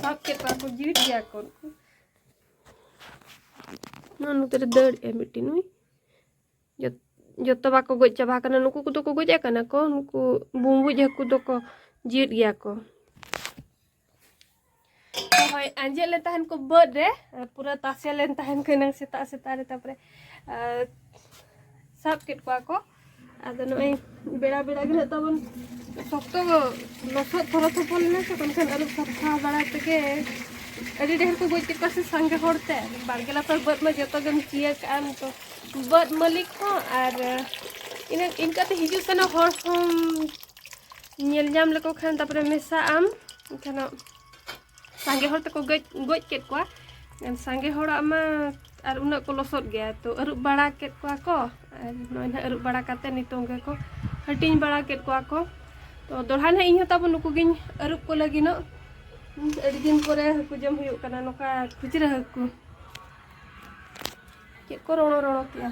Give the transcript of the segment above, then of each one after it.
ᱥᱟᱵ ᱠᱮᱫ ᱠᱚᱣᱟ ᱠᱚ ᱡᱤᱣᱤᱫ ᱜᱮᱭᱟ ᱠᱚ ᱩᱱᱠᱩ ᱱᱚᱣᱟ ᱱᱚᱛᱮ ᱨᱮ ᱫᱟᱹᱲ ᱮ ᱢᱤᱫᱴᱤᱱ ᱱᱩᱭ ᱡᱚᱛᱚ ᱵᱟᱠᱚ ᱜᱚᱡ ᱪᱟᱵᱟ ᱟᱠᱟᱱᱟ ᱱᱩᱠᱩ ᱠᱚᱫᱚ ᱠᱚ ᱜᱚᱡ ᱟᱠᱟᱱᱟ ᱠᱚ ᱱᱩᱠᱩ ᱵᱩᱢᱵᱩᱡ ᱦᱟᱹᱠᱩ ᱫᱚᱠᱚ ᱡᱤᱣᱤᱫ ᱜᱮᱭᱟ ᱠᱚ ᱦᱳᱭ ᱟᱸᱡᱮᱫ ᱞᱮᱱ ᱛᱟᱦᱮᱱ ᱠᱚ ᱵᱟᱹᱫ ᱨᱮ ᱯᱩᱨᱟᱹ ᱛᱟᱥᱮ ᱞᱮᱱ ᱛᱟᱦᱮᱱ ᱠᱚ ᱮᱱᱟᱝ ᱥᱮᱛᱟᱜ ᱥᱮᱛᱟᱜ ᱨᱮ ᱛᱟᱨᱯᱚᱨᱮ ᱥᱟᱵ ᱠᱮᱫ ᱠᱚᱣᱟ ᱠᱚ ᱟᱫᱚ ᱱᱚᱜᱼᱚᱭ ᱵᱮᱲᱟ ᱵᱮᱲᱟ ᱜᱮ ᱱᱟᱜ ᱛᱟᱵᱚᱱ ᱥᱚᱠᱛᱚ ᱞᱚᱥᱚᱫ ᱛᱷᱚᱨᱚ ᱛᱷᱚᱯᱚᱞ ᱞᱮᱱᱟ ᱥᱮ ᱵᱟᱝᱠᱷᱟᱱ ᱟᱹᱨᱩᱵ ᱥᱟᱯᱷᱟ ᱵᱟᱲᱟ ᱛᱮᱜᱮ ᱟᱹᱰᱤ ᱰᱷᱮᱨ ᱠᱚ ᱜᱚᱡ ᱠᱮᱫ ᱠᱚᱣᱟ ᱥᱮ ᱥᱟᱸᱜᱮ ᱦᱚᱲ ᱛᱮ ᱵᱟᱲᱜᱮ ᱞᱟᱛᱟᱨ ᱵᱟᱹᱫᱽ ᱢᱟ ᱡᱚᱛᱚ ᱜᱮᱢ ᱪᱤᱭᱟᱹ ᱠᱟᱜᱼᱟ ᱱᱤᱛᱚᱜ ᱵᱟᱹᱫᱽ ᱢᱟᱹᱞᱤᱠ ᱦᱚᱸ ᱟᱨ ᱤᱱᱟᱹ ᱤᱱᱠᱟᱹᱛᱮ ᱦᱤᱡᱩᱜ ᱥᱮᱱᱚᱜ ᱦᱚᱲ ᱦᱚᱸ ᱧᱮᱞ ᱧᱟᱢ ᱞᱮᱠᱚ ᱠᱷᱟᱱ ᱛᱟᱨᱯᱚᱨᱮ ᱢᱮᱥᱟᱜ ᱟᱢ ᱮᱱᱠᱷᱟᱱ ᱥᱟᱸᱜᱮ ᱦᱚᱲ ᱛᱮᱠᱚ ᱜᱚᱡ ᱜᱚᱡ ᱠᱮᱫ ᱠᱚᱣᱟ ᱥᱟᱸᱜᱮ ᱦᱚᱲᱟᱜ ᱢᱟ ᱟᱨ ᱩᱱᱟᱹᱜ ᱠᱚ ᱞᱚᱥᱚᱫ ᱜᱮᱭᱟ ᱛᱚ ᱟᱹᱨᱩᱵ ᱵᱟᱲᱟ ᱠᱮᱫ ᱠᱚᱣᱟ ᱠᱚ ᱟᱨ ᱱᱚᱜᱼᱚᱭ ᱱᱟᱦᱟᱜ ᱟᱹᱨᱩᱵ ᱵᱟᱲᱟ ᱠᱟᱛᱮ ᱱᱤᱛᱚᱝ ᱜᱮᱠᱚ ᱦᱟᱹᱴᱤᱧ ᱵᱟᱲᱟ ᱠᱮᱫ ᱠᱚᱣᱟ ᱠᱚ ᱛᱚ ᱫᱚᱲᱦᱟ ᱱᱟᱦᱟᱜ ᱤᱧ ᱦᱚᱸ ᱛᱟᱵᱚ ᱱᱩᱠᱩ ᱜᱤᱧ ᱟᱹᱨᱩᱵ ᱠᱚ ᱞᱟᱹᱜᱤᱫᱚᱜ ᱟᱹᱰᱤ ᱫᱤᱱ ᱯᱚᱨᱮ ᱦᱟᱹᱠᱩ ᱡᱚᱢ ᱦᱩᱭᱩᱜ ᱠᱟᱱᱟ ᱱᱚᱝᱠᱟ ᱠᱷᱩᱪᱨᱟᱹ ᱦᱟᱹᱠᱩ ᱪᱮᱫ ᱠᱚ ᱨᱚᱲᱚ ᱨᱚᱲᱚ ᱠᱮᱜᱼᱟ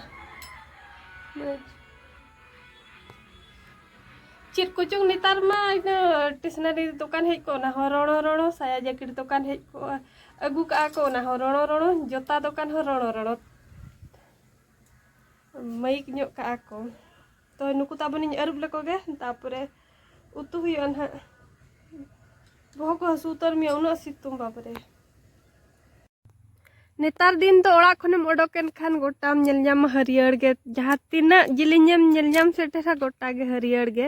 ᱪᱮᱫ ᱠᱚᱪᱚᱝ ᱱᱮᱛᱟᱨ ᱢᱟ ᱤᱱᱟᱹ ᱴᱮᱥᱱᱟᱨᱤ ᱫᱚᱠᱟᱱ ᱦᱮᱡ ᱠᱚᱜ ᱚᱱᱟ ᱦᱚᱸ ᱨᱚᱲᱚ ᱨᱚᱲᱚ ᱥᱟᱭᱟ ᱡᱮᱠᱮᱴ ᱫᱚᱠᱟᱱ ᱦᱮᱡ ᱠᱚᱜᱼᱟ ᱟᱹᱜᱩ ᱠᱟᱜᱼᱟ ᱠᱚ ᱚᱱᱟ ᱦᱚᱸ ᱨᱚᱲᱚ ᱨᱚᱲᱚ ᱡᱚᱛᱟ ᱫᱚᱠᱟᱱ ᱦᱚᱸ ᱨᱚᱲᱚ ᱨᱚᱲᱚ ᱢᱟᱹᱭᱤᱠ ᱧᱚᱜ ᱠᱟᱜᱼᱟ ᱠᱚ ᱛᱚ ᱱᱩᱠᱩ ᱛᱟᱵᱚᱱᱤᱧ ᱟᱹᱨᱩᱵ ᱞᱮᱠᱚ ᱜᱮ ᱛᱟᱯᱚᱨᱮ ᱩᱛᱩ ᱦᱩᱭᱩᱜᱼᱟ ᱱᱟᱦᱟᱜ ᱵᱚᱦᱚᱜ ᱠᱚ ᱦᱟᱹᱥᱩ ᱩᱛᱟᱹᱨ ᱢᱮᱭᱟ ᱩᱱᱟᱹᱜ ᱥᱤᱛᱩᱝ ᱵᱟᱵᱨᱮ ᱱᱮᱛᱟᱨ ᱫᱤᱱ ᱫᱚ ᱚᱲᱟᱜ ᱠᱷᱚᱱᱮᱢ ᱚᱰᱚᱠ ᱮᱱ ᱠᱷᱟᱱ ᱜᱚᱴᱟᱢ ᱧᱮᱞ ᱧᱟᱢᱟ ᱦᱟᱹᱨᱭᱟᱹᱲ ᱜᱮ ᱡᱟᱦᱟᱸ ᱛᱤᱱᱟᱹᱜ ᱡᱤᱞᱤᱧᱮᱢ ᱧᱮᱞ ᱧᱟᱢ ᱥᱮᱴᱮᱨᱟ ᱜᱚᱴᱟ ᱜᱮ ᱦᱟᱹᱨᱭᱟᱹᱲ ᱜᱮ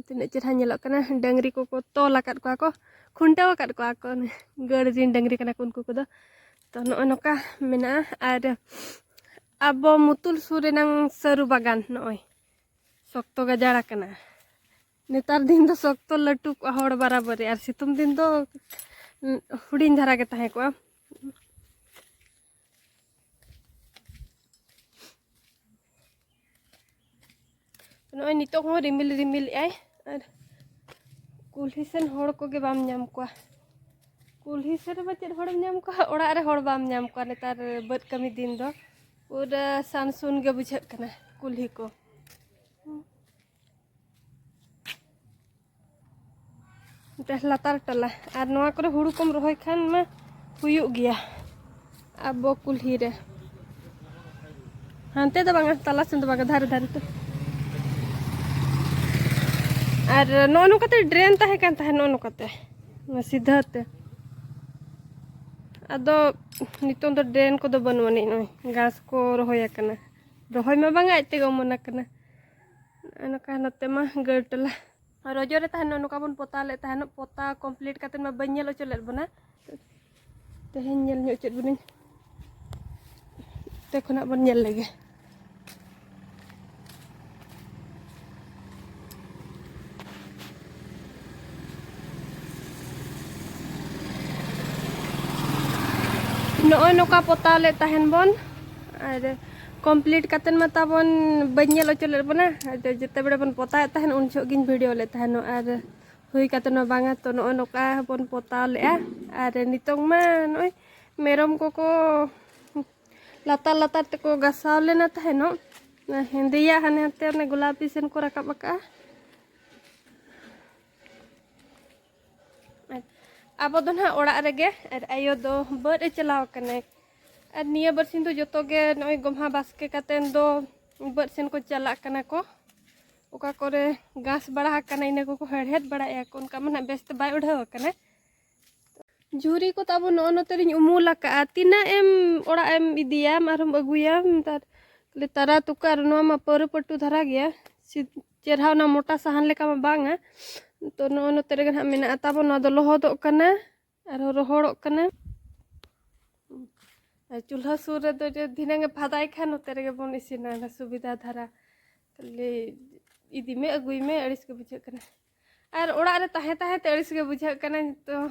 ᱛᱤᱱᱟᱹᱜ ᱪᱮᱨᱦᱟ ᱧᱮᱞᱚᱜ ᱠᱟᱱᱟ ᱰᱟᱹᱝᱨᱤ ᱠᱚᱠᱚ ᱛᱚᱞ ᱟᱠᱟᱫ ᱠᱚᱣᱟ ᱠᱚ ᱠᱷᱩᱱᱴᱟᱹᱣ ᱟᱠᱟᱫ ᱠᱚᱣᱟ ᱠᱚ ᱜᱟᱹᱲ ᱨᱤᱱ ᱰᱟᱹᱝᱨᱤ ᱠᱟᱱᱟ ᱠᱚ ᱩᱱᱠᱩ ᱠᱚᱫᱚ ᱛᱚ ᱱᱚᱜᱼᱚᱭ ᱱᱚᱝᱠᱟ ᱢᱮᱱᱟᱜᱼᱟ ᱟᱨ ᱟᱵᱚ ᱢᱩᱛᱩᱞ ᱥᱩᱨ ᱨᱮᱱᱟᱝ ᱥᱟᱹᱨᱩ ᱵᱟᱜᱟᱱ ᱱᱚᱜᱼᱚᱭ ᱥᱚᱠᱛᱚ ᱜᱟᱡᱟᱲ ᱟᱠᱟᱱᱟ ᱱᱮᱛᱟᱨ ᱫᱤᱱ ᱫᱚ ᱥᱚᱠᱛᱚ ᱞᱟᱹᱴᱩ ᱠᱚᱜᱼᱟ ᱦᱚᱲ ᱵᱟᱨᱟᱵᱟᱹᱨᱤ ᱟᱨ ᱥᱤᱛᱩᱝ ᱫᱤᱱ ᱫᱚ ᱦᱩᱰᱤᱧ ᱫᱷᱟᱨᱟ ᱜᱮ ᱛᱟᱦᱮᱸ ᱠᱚᱜᱼᱟ ᱱᱚᱜᱼᱚᱭ ᱱᱤᱛᱚᱜ ᱦᱚᱸ ᱨᱤᱢᱤᱞ ᱨᱤᱢᱤᱞ ᱮᱜᱼᱟᱭ ᱟᱨ ᱠᱩᱞᱦᱤ ᱥᱮᱱ ᱦᱚᱲ ᱠᱚᱜᱮ ᱵᱟᱢ ᱧᱟᱢ ᱠᱚᱣᱟ ᱠᱩᱞᱦᱤ ᱥᱮᱱ ᱨᱮᱢᱟ ᱪᱮᱫ ᱦᱚᱲᱮᱢ ᱧᱟᱢ ᱠᱚᱣᱟ ᱚᱲᱟᱜ ᱨᱮ ᱦᱚᱲ ᱵᱟᱢ ᱧᱟᱢ ᱠᱚᱣᱟ ᱱᱮᱛᱟᱨ ᱵᱟᱹᱫᱽ ᱠᱟᱹᱢᱤ ᱫᱤᱱ ᱫᱚ ᱯᱩᱨᱟᱹ ᱥᱟᱱᱥᱩᱱ ᱜᱮ ᱵᱩᱡᱷᱟᱹᱜ ᱠᱟᱱᱟ ᱠᱩᱞᱦᱤ ᱠᱚ ᱢᱤᱫᱴᱟᱝ ᱞᱟᱛᱟᱨ ᱴᱚᱞᱟ ᱟᱨ ᱱᱚᱣᱟ ᱠᱚᱨᱮ ᱦᱩᱲᱩ ᱠᱚᱢ ᱨᱚᱦᱚᱭ ᱠᱷᱟᱱ ᱢᱟ ᱦᱩᱭᱩᱜ ᱜᱮᱭᱟ ᱟᱵᱚ ᱠᱩᱞᱦᱤ ᱨᱮ ᱦᱟᱱᱛᱮ ᱫᱚ ᱵᱟᱝᱟ ᱛᱟᱞᱟ ᱥᱮᱱ ᱫᱚ ᱵᱟᱝᱟ ᱫᱷᱟᱨᱮ ᱫᱷᱟᱨᱮ ᱛᱮ ᱟᱨ ᱱᱚᱜᱼᱚ ᱱᱚᱝᱠᱟᱛᱮ ᱰᱨᱮᱱ ᱛᱟᱦᱮᱸ ᱠᱟᱱ ᱛᱟᱦᱮᱸᱫ ᱱᱚᱜᱼᱚ ᱱᱚᱝᱠᱟᱛᱮ ᱥᱤᱫᱷᱟᱹ ᱛᱮ ᱟᱫᱚ ᱱᱤᱛᱚᱝ ᱫᱚ ᱰᱨᱮᱱ ᱠᱚᱫᱚ ᱵᱟᱹᱱᱩᱜ ᱟᱹᱱᱤᱡ ᱱᱚᱜᱼᱚᱭ ᱜᱷᱟᱥ ᱠᱚ ᱨᱚᱦᱚᱭ ᱟᱠᱟᱱᱟ ᱨᱚᱦᱚᱭ ᱢᱟ ᱵᱟᱝᱟ ᱟᱡ ᱛᱮᱜᱮ ᱚᱢᱚᱱ ᱟᱠᱟᱱᱟ ᱱᱚᱝᱠᱟ ᱱᱚᱛᱮ ᱢᱟ ᱜᱟᱹᱲ ᱴᱚᱞᱟ ᱨᱚᱡᱚ ᱨᱮ ᱛᱟᱦᱮᱱᱚᱜ ᱱᱚᱝᱠᱟ ᱵᱚᱱ ᱯᱚᱛᱟᱣ ᱞᱮᱫ ᱛᱟᱦᱮᱱᱚᱜ ᱯᱚᱛᱟᱣ ᱠᱚᱢᱯᱞᱤᱴ ᱠᱟᱛᱮ ᱢᱟ ᱵᱟᱹᱧ ᱧᱮᱞ ᱦᱚᱪᱚ ᱞᱮᱫ ᱵᱚᱱᱟ ᱛᱮᱦᱮᱧ ᱧᱮᱞ ᱧᱚᱜ ᱪᱮᱫ ᱵᱚᱱᱟᱹᱧ ᱛᱮ ᱠᱷᱚᱱᱟᱜ ᱵᱚᱱ ᱧᱮᱞ ᱞᱮᱜᱮ ᱱᱚᱜᱼᱚᱭ ᱱᱚᱝᱠᱟ ᱯᱚᱛᱟᱣ ᱞᱮᱫ ᱛᱟᱦᱮᱱ ᱵᱚᱱ ᱟᱨ ᱠᱚᱢᱯᱞᱤᱴ ᱠᱟᱛᱮᱱ ᱢᱟ ᱛᱟᱵᱚᱱ ᱵᱟᱹᱧ ᱧᱮᱞ ᱚᱪᱚ ᱞᱮᱫ ᱵᱚᱱᱟ ᱡᱮᱛᱮ ᱵᱮᱲᱟ ᱵᱚᱱ ᱯᱚᱛᱟᱣᱮᱫ ᱛᱟᱦᱮᱱ ᱩᱱ ᱡᱚᱦᱚᱜ ᱜᱤᱧ ᱵᱷᱤᱰᱤᱭᱳ ᱞᱮᱫ ᱛᱟᱦᱮᱱ ᱟᱨ ᱦᱩᱭ ᱠᱟᱛᱮ ᱦᱚᱸ ᱵᱟᱝᱟ ᱛᱚ ᱱᱚᱜᱼᱚᱭ ᱱᱚᱝᱠᱟ ᱵᱚᱱ ᱯᱚᱛᱟᱣ ᱞᱮᱫᱼᱟ ᱟᱨ ᱱᱤᱛᱚᱝ ᱢᱟ ᱱᱚᱜᱼᱚᱭ ᱢᱮᱨᱚᱢ ᱠᱚᱠᱚ ᱞᱟᱛᱟᱨ ᱞᱟᱛᱟᱨ ᱛᱮᱠᱚ ᱜᱟᱥᱟᱣ ᱞᱮᱱᱟ ᱛᱟᱦᱮᱱᱚᱜ ᱦᱮᱸᱫᱮᱭᱟᱜ ᱦᱟᱱᱮ ᱦᱟᱱᱛᱮ ᱚᱱᱮ ᱜᱳᱞᱟᱯᱤ ᱥᱮᱱ ᱠᱚ ᱨᱟᱠᱟᱵ ᱟᱠᱟᱜᱼᱟ ᱟᱵᱚ ᱫᱚ ᱱᱟᱦᱟᱜ ᱚᱲᱟᱜ ᱨᱮᱜᱮ ᱟᱨ ᱟᱭᱳ ᱫᱚ ᱵᱟᱹᱫ ᱮ ᱪᱟᱞᱟᱣ ᱟᱠᱟᱱᱟᱭ ᱟᱨ ᱱᱤᱭᱟᱹ ᱵᱟᱨᱥᱤᱧ ᱫᱚ ᱡᱚᱛᱚ ᱜᱮ ᱱᱚᱜᱼᱚᱭ ᱜᱚᱢᱦᱟ ᱵᱟᱥᱠᱮ ᱠᱟᱛᱮᱱ ᱫᱚ ᱵᱟᱹᱫ ᱥᱮᱱ ᱠᱚ ᱪᱟᱞᱟᱜ ᱠᱟᱱᱟ ᱠᱚ ᱚᱠᱟ ᱠᱚᱨᱮ ᱜᱷᱟᱥ ᱵᱟᱲᱟ ᱟᱠᱟᱱᱟ ᱤᱱᱟᱹ ᱠᱚᱠᱚ ᱦᱮᱲᱦᱮᱫ ᱵᱟᱲᱟᱭᱮᱫᱼᱟ ᱠᱚ ᱚᱱᱠᱟ ᱢᱟ ᱱᱟᱦᱟᱜ ᱵᱮᱥ ᱛᱮ ᱵᱟᱭ ᱩᱰᱷᱟᱹᱣ ᱟᱠᱟᱱᱟ ᱡᱷᱩᱨᱤ ᱠᱚ ᱛᱟᱵᱚ ᱱᱚᱜᱼᱚ ᱱᱚᱛᱮ ᱨᱤᱧ ᱩᱢᱩᱞ ᱟᱠᱟᱜᱼᱟ ᱛᱤᱱᱟᱹᱜ ᱮᱢ ᱚᱲᱟᱜ ᱮᱢ ᱤᱫᱤᱭᱟᱢ ᱟᱨᱦᱚᱢ ᱟᱹᱜᱩᱭᱟᱢ ᱛᱟᱨ ᱛᱟᱨᱟ ᱛᱩᱠᱟᱹ ᱟᱨ ᱱᱚᱣᱟ ᱢᱟ ᱯᱟᱹᱣᱨᱟᱹ ᱯᱟᱹᱴᱩ ᱫᱷᱟᱨᱟ ᱜᱮᱭᱟ ᱪᱮᱨᱦᱟ ᱚᱱᱟ ᱢᱚᱴᱟ ᱥᱟᱦᱟᱱ ᱞᱮᱠᱟ ᱢᱟ ᱵᱟᱝᱟ ᱛᱚ ᱱᱚᱜᱼᱚᱭ ᱱᱚᱛᱮ ᱨᱮᱜᱮ ᱱᱟᱦᱟᱜ ᱢᱮᱱᱟᱜᱼᱟ ᱛᱟᱵᱚᱱ ᱱᱚᱣᱟ ᱫᱚ ᱞᱚᱦᱚᱫᱚᱜ ᱠᱟᱱᱟ ᱟᱨᱦᱚᱸ ᱨᱚᱦᱚᱲᱚᱜ ᱠᱟᱱᱟ ᱟᱨ ᱪᱩᱞᱦᱟᱹ ᱥᱩᱨ ᱨᱮᱫᱚ ᱡᱮ ᱫᱷᱤᱱᱟᱹᱝ ᱮ ᱯᱷᱟᱫᱟᱭ ᱠᱷᱟᱱ ᱱᱚᱛᱮ ᱨᱮᱜᱮ ᱵᱚᱱ ᱤᱥᱤᱱᱟ ᱚᱱᱟ ᱥᱩᱵᱤᱫᱷᱟ ᱫᱷᱟᱨᱟ ᱠᱷᱟᱹᱞᱤ ᱤᱫᱤ ᱢᱮ ᱟᱹᱜᱩᱭ ᱢᱮ ᱟᱹᱲᱤᱥ ᱜᱮ ᱵᱩᱡᱷᱟᱹᱜ ᱠᱟᱱᱟ ᱟᱨ ᱚᱲᱟᱜ ᱨᱮ ᱛᱟᱦᱮᱸ ᱛᱟᱦᱮᱸ ᱛᱮ ᱟᱹᱲᱤᱥ ᱜᱮ ᱵᱩᱡᱷᱟᱹᱜ ᱠᱟᱱᱟ ᱱᱤᱛᱚᱜ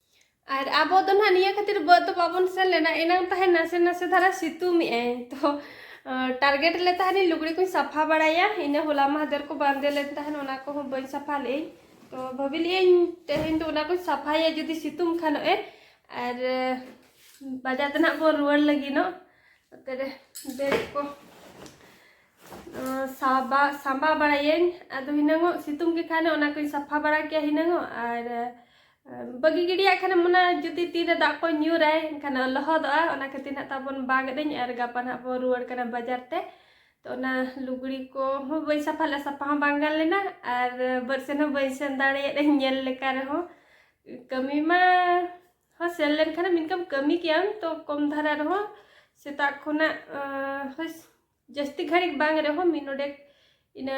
ᱟᱨ ᱟᱵᱚ ᱫᱚ ᱱᱟᱦᱟᱜ ᱱᱤᱭᱟᱹ ᱠᱷᱟᱹᱛᱤᱨ ᱵᱟᱹᱫᱽ ᱫᱚ ᱵᱟᱵᱚᱱ ᱥᱮᱱ ᱞᱮᱱᱟ ᱮᱱᱟᱝ ᱛᱟᱦᱮᱸ ᱱᱟᱥᱮ ᱱᱟᱥᱮ ᱫᱷᱟᱨᱟ ᱥᱤᱛᱩᱝ ᱮᱜᱼᱟᱭ ᱛᱚ ᱴᱟᱨᱜᱮᱴ ᱞᱮ ᱛᱟᱦᱮᱱᱤᱧ ᱞᱩᱜᱽᱲᱤ ᱠᱚᱧ ᱥᱟᱯᱷᱟ ᱵᱟᱲᱟᱭᱟ ᱤᱱᱟᱹ ᱦᱚᱞᱟ ᱢᱟᱦᱫᱮᱨ ᱠᱚ ᱵᱟᱸᱫᱮ ᱞᱮᱱ ᱛᱟᱦᱮᱱ ᱚᱱᱟ ᱠᱚᱦᱚᱸ ᱵᱟᱹᱧ ᱥᱟᱯᱷᱟ ᱞᱮᱜᱼᱟᱹᱧ ᱛᱚ ᱵᱷᱟᱹᱵᱤ ᱞᱮᱜᱼᱟᱹᱧ ᱛᱮᱦᱮᱧ ᱫᱚ ᱚᱱᱟ ᱠᱚᱧ ᱥᱟᱯᱷᱟᱭᱟ ᱡᱩᱫᱤ ᱥᱤᱛᱩᱝ ᱠᱷᱟᱱᱚᱜ ᱮ ᱟᱨ ᱵᱟᱡᱟᱨ ᱛᱮ ᱱᱟᱦᱟᱜ ᱵᱚᱱ ᱨᱩᱣᱟᱹᱲ ᱞᱟᱹᱜᱤᱫᱚᱜ ᱚᱱᱛᱮ ᱨᱮ ᱵᱮᱜᱽ ᱠᱚ ᱥᱟᱵᱟ ᱥᱟᱢᱵᱟ ᱵᱟᱲᱟᱭᱟᱹᱧ ᱟᱫᱚ ᱦᱤᱱᱟᱹᱝᱚᱜ ᱥᱤᱛᱩᱝ ᱜᱮ ᱠᱷᱟᱱ ᱚᱱᱟ ᱠᱚᱧ ᱥᱟᱯᱷᱟ ᱵᱟᱲᱟ ᱠᱮᱭᱟ ᱦᱤᱱᱟᱹᱝᱚᱜ ᱟᱨ ᱵᱟᱹᱜᱤ ᱜᱤᱰᱤᱭᱟᱜ ᱠᱷᱟᱱᱮᱢ ᱚᱱᱟ ᱡᱩᱫᱤ ᱛᱤᱨᱮ ᱫᱟᱜ ᱠᱚ ᱧᱩᱨᱟᱭ ᱮᱱᱠᱷᱟᱱ ᱞᱚᱦᱚᱫᱚᱜᱼᱟ ᱚᱱᱟ ᱠᱷᱟᱹᱛᱤᱨ ᱱᱟᱜ ᱛᱟᱵᱚᱱ ᱵᱟᱜ ᱮᱫᱟᱹᱧ ᱟᱨ ᱜᱟᱯᱟ ᱱᱟᱜ ᱵᱚᱱ ᱨᱩᱣᱟᱹᱲ ᱠᱟᱱᱟ ᱵᱟᱡᱟᱨ ᱛᱮ ᱛᱚ ᱚᱱᱟ ᱞᱩᱜᱽᱲᱤ ᱠᱚ ᱦᱚᱸ ᱵᱟᱹᱧ ᱥᱟᱯᱷᱟ ᱞᱮᱫᱟ ᱥᱟᱯᱷᱟ ᱦᱚᱸ ᱵᱟᱝ ᱜᱟᱱ ᱞᱮᱱᱟ ᱟᱨ ᱵᱟᱹᱫ ᱥᱮᱱ ᱦᱚᱸ ᱵᱟᱹᱧ ᱥᱮᱱ ᱫᱟᱲᱮᱭᱟᱫᱟᱹᱧ ᱧᱮᱞ ᱞᱮᱠᱟ ᱨᱮᱦᱚᱸ ᱠᱟᱹᱢᱤ ᱢᱟ ᱦᱚᱸ ᱥᱮᱱ ᱞᱮᱱᱠᱷᱟᱱᱮᱢ ᱤᱱᱠᱟᱹᱢ ᱠᱟᱹᱢᱤ ᱠᱮᱭᱟᱢ ᱛᱚ ᱠᱚᱢ ᱫᱷᱟᱨᱟ ᱨᱮᱦᱚᱸ ᱥᱮᱛᱟᱜ ᱠᱷᱚᱱᱟᱜ ᱦᱳᱭ ᱡᱟᱹᱥᱛᱤ ᱜᱷᱟᱹᱲᱤᱡ ᱵᱟᱝ ᱨᱮᱦᱚᱸ ᱢᱤᱫ ᱱᱚᱰᱮᱠ ᱤᱱᱟᱹ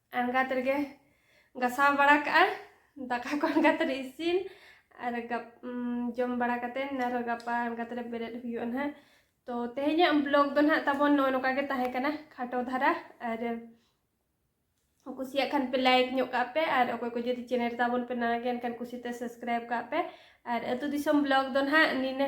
ᱟᱬᱜᱟᱛ ᱨᱮᱜᱮ ᱜᱟᱥᱟᱣ ᱵᱟᱲᱟ ᱠᱟᱜᱼᱟ ᱫᱟᱠᱟ ᱠᱚ ᱟᱬᱜᱟᱛ ᱨᱮ ᱤᱥᱤᱱ ᱟᱨ ᱜᱟᱯ ᱡᱚᱢ ᱵᱟᱲᱟ ᱠᱟᱛᱮ ᱟᱨᱦᱚᱸ ᱜᱟᱯᱟ ᱟᱬᱜᱟᱛ ᱨᱮ ᱵᱮᱨᱮᱫ ᱦᱩᱭᱩᱜᱼᱟ ᱱᱟᱦᱟᱜ ᱛᱚ ᱛᱮᱦᱮᱧᱟᱜ ᱵᱞᱚᱜ ᱫᱚ ᱱᱟᱦᱟᱜ ᱛᱟᱵᱚᱱ ᱱᱚᱜᱼᱚ ᱱᱚᱝᱠᱟ ᱜᱮ ᱛᱟᱦᱮᱸ ᱠᱟᱱᱟ ᱠᱷᱟᱴᱚ ᱫᱷᱟᱨᱟ ᱟᱨ ᱠᱩᱥᱤᱭᱟᱜ ᱠᱷᱟᱱ ᱯᱮ ᱞᱟᱭᱤᱠ ᱧᱚᱜ ᱠᱟᱜ ᱯᱮ ᱟᱨ ᱚᱠᱚᱭ ᱠᱚ ᱡᱩᱫᱤ ᱪᱮᱱᱮᱞ ᱛᱟᱵᱚᱱ ᱯᱮ ᱱᱟᱣᱟ ᱜᱮ ᱮᱱᱠᱷᱟᱱ ᱠᱩᱥᱤᱛᱮ ᱥᱟᱵᱥᱠᱨᱟᱭᱤᱵ ᱠᱟᱜ ᱯᱮ ᱟᱨ ᱟᱹᱛᱩ ᱫᱤᱥᱚᱢ ᱵᱞᱚᱜ ᱫᱚ ᱱᱟᱦᱟᱜ ᱱᱤᱱᱟᱹ